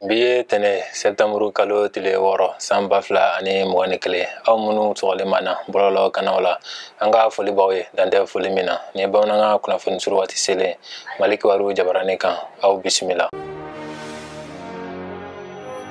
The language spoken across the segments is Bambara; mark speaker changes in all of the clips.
Speaker 1: bi ye tɛnɛ sɛbtanburu kalo tile wɔɔrɔ san ba fila ani mugan ni kelen aw minnu sɔgɔlen b'an na bɔlɔlɔ kanaw la an ka foli b'aw ye dan tɛ foli min na ni bamanankan kunnafoni suru waati selen mali kibaru jabarani kan aw bisimila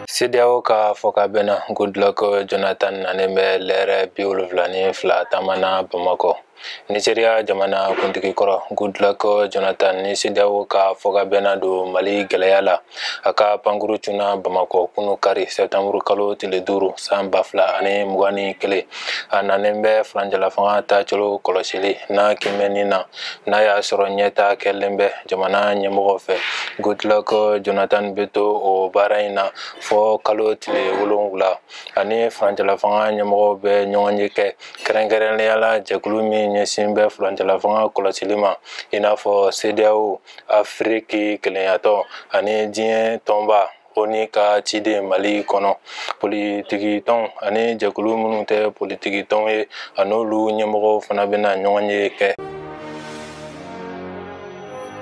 Speaker 1: CEDEAO ka fɔkabɛnna Goodluck Jonathan nanen bɛ lɛrɛ bi wolonwula ni fila taama na Bamakɔ. nizeriya jamana kuntigi kɔrɔ goodluck jonathan ni CEDEAO ka fɔkabɛnna don mali gɛlɛya la a ka pankuru cunna bamakɔ kunu kari sɛtanburu kalo tile duuru san ba fila ani mugan ni kelen a nanen bɛ furancɛlafanga taacolo kɔlɔsili n'a kiimɛni na n'a y'a sɔrɔ ɲɛtaa kɛlen bɛ jamana ɲɛmɔgɔw fɛ goodluck jonathan bɛ to o baara in na fɔ kalo tile wolonwula a ni furancɛlafanga ɲɛmɔgɔw bɛ ɲɔgɔnye kɛ kɛrɛnkɛrɛnnenya la jɛkulu min ɲɛsin bɛ furancɛlafanga kɔlɔsili ma i n'a fɔ CEDEAO afiriki kelenyatɔn ani diɲɛ tɔnba ONU ka ciden mali kɔnɔ politikitɔn ani jɛkulu minnu tɛ politikitɔn ye a n'olu ɲɛmɔgɔw fana bɛna ɲɔgɔnye kɛ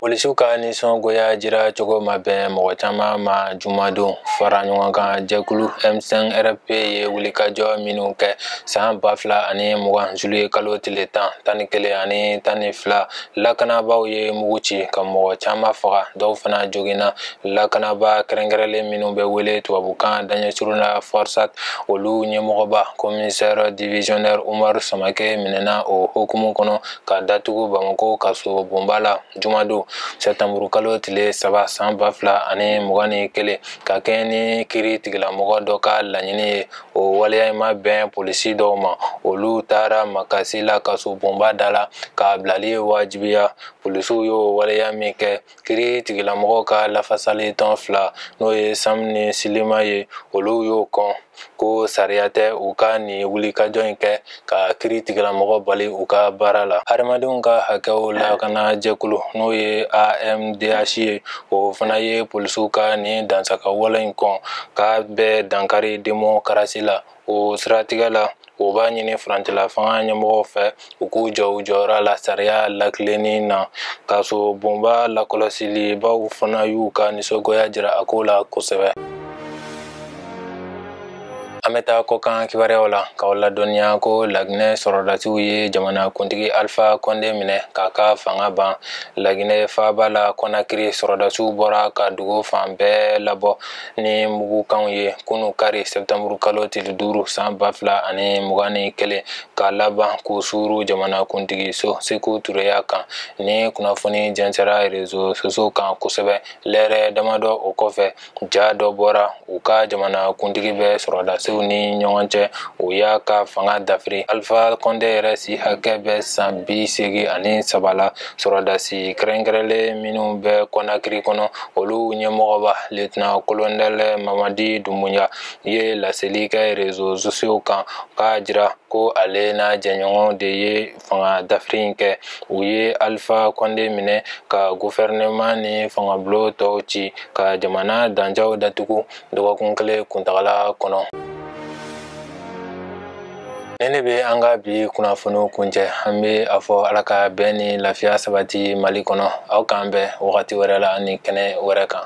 Speaker 1: polisiw ka nisɔngoya jira cogo ma bɛn mɔgɔ caman ma jumadon fara ɲɔgɔn kan jɛkulu m5 rfp ye wulikajɔ minnu kɛ san ba fila ani mugan zuliye kalo tile tan tan ni kelen ani tan ni fila lakanabaaw ye mugu ci ka mɔgɔ caman faga dɔw fana joginna lakanabaa kɛrɛnkɛrɛnlen minnu bɛ wele tubabukan daɲɛsurun la forsat olu ɲɛmɔgɔba komisɛr divisionɛr umaru samake minɛna o hukumu kɔnɔ ka datugu bamakɔ kaso bonba la jumadon sɛtanburu kalo tile saba san ba fila ani mugan ni kelen ka kɛɲɛ ni kiri tigilamɔgɔ dɔ ka laɲini ye o waleya ma bɛn polisi dɔw ma olu taara makasi la kaso bonba da la k'a bilali wajibiya polisiw y'o waleya min kɛ kiri tigilamɔgɔw ka lafasali tɔn fila n'o ye sam ni silima ye olu y'o kɔn ko sariya tɛ u ka nin wulikajɔ in kɛ ka kiri tigilamɔgɔ bali u ka baara la hadamadenw ka hakɛw lakana jɛkulu n'o ye amdh ye o fana ye polisiw ka nin dansaka wale in kɔn k'a bɛ dankari demokarasi la o siratigɛ la o b'a ɲini furancɛla fanga ɲɛmɔgɔw fɛ u k'u jɔ u jɔyɔrɔ la sariya latilenni na kaso bonba lakɔlɔsilibaw fana y'u ka nisɔngoya jira a ko la kosɛbɛ an bɛ taa kɔkan kibaruyaw la k'aw ladɔnniya ko laginɛ sɔrɔdasiw ye jamanakuntigi alifa kɔnde minɛ k'a ka fanga ban laginɛ faaba la kɔnakiri sɔrɔdasiw bɔra ka dugu fan bɛɛ labɔ ni mugukanw ye kunu kari sɛbtanburu kalo tile duuru san ba fila ani mugan ni kelen ka laban k'u suuru jamana kuntigi so seku tureya kan ni kunnafoni jɛnsɛra rezo sosiyow kan kosɛbɛ lɛrɛ damadɔ o kɔfɛ ja dɔ bɔra u ka jamana kuntigi bɛ sɔrɔdasiw ni ɲɔgɔn cɛ u y'a ka fanga dafiri alifa kɔnde yɛrɛ si hakɛ bɛ san bi segin ani saba la sɔrɔdasi kɛrɛnkɛrɛnlen minnu bɛ kɔnakiri kɔnɔ olu ɲɛmɔgɔba letina kolonɛli mamadi dumbuya ye laseli kɛ rezo sosiyow kan k'a jira ko ale n'a jɛɲɔgɔnw de ye fanga dafiri in kɛ u ye alifa kɔnde minɛ ka gofɛrɛnɛman ni fangabulon tɔw ci ka jamana dancɛw datugu dɔgɔkun kelen kuntagala kɔnɔ ni ne bɛ an ka bi kunnafoniw kuncɛ an bɛ a fɔ ala ka bɛn ni lafiya sabati mali kɔnɔ aw k'an bɛn wagati wɛrɛ la ni kɛnɛ wɛrɛ kan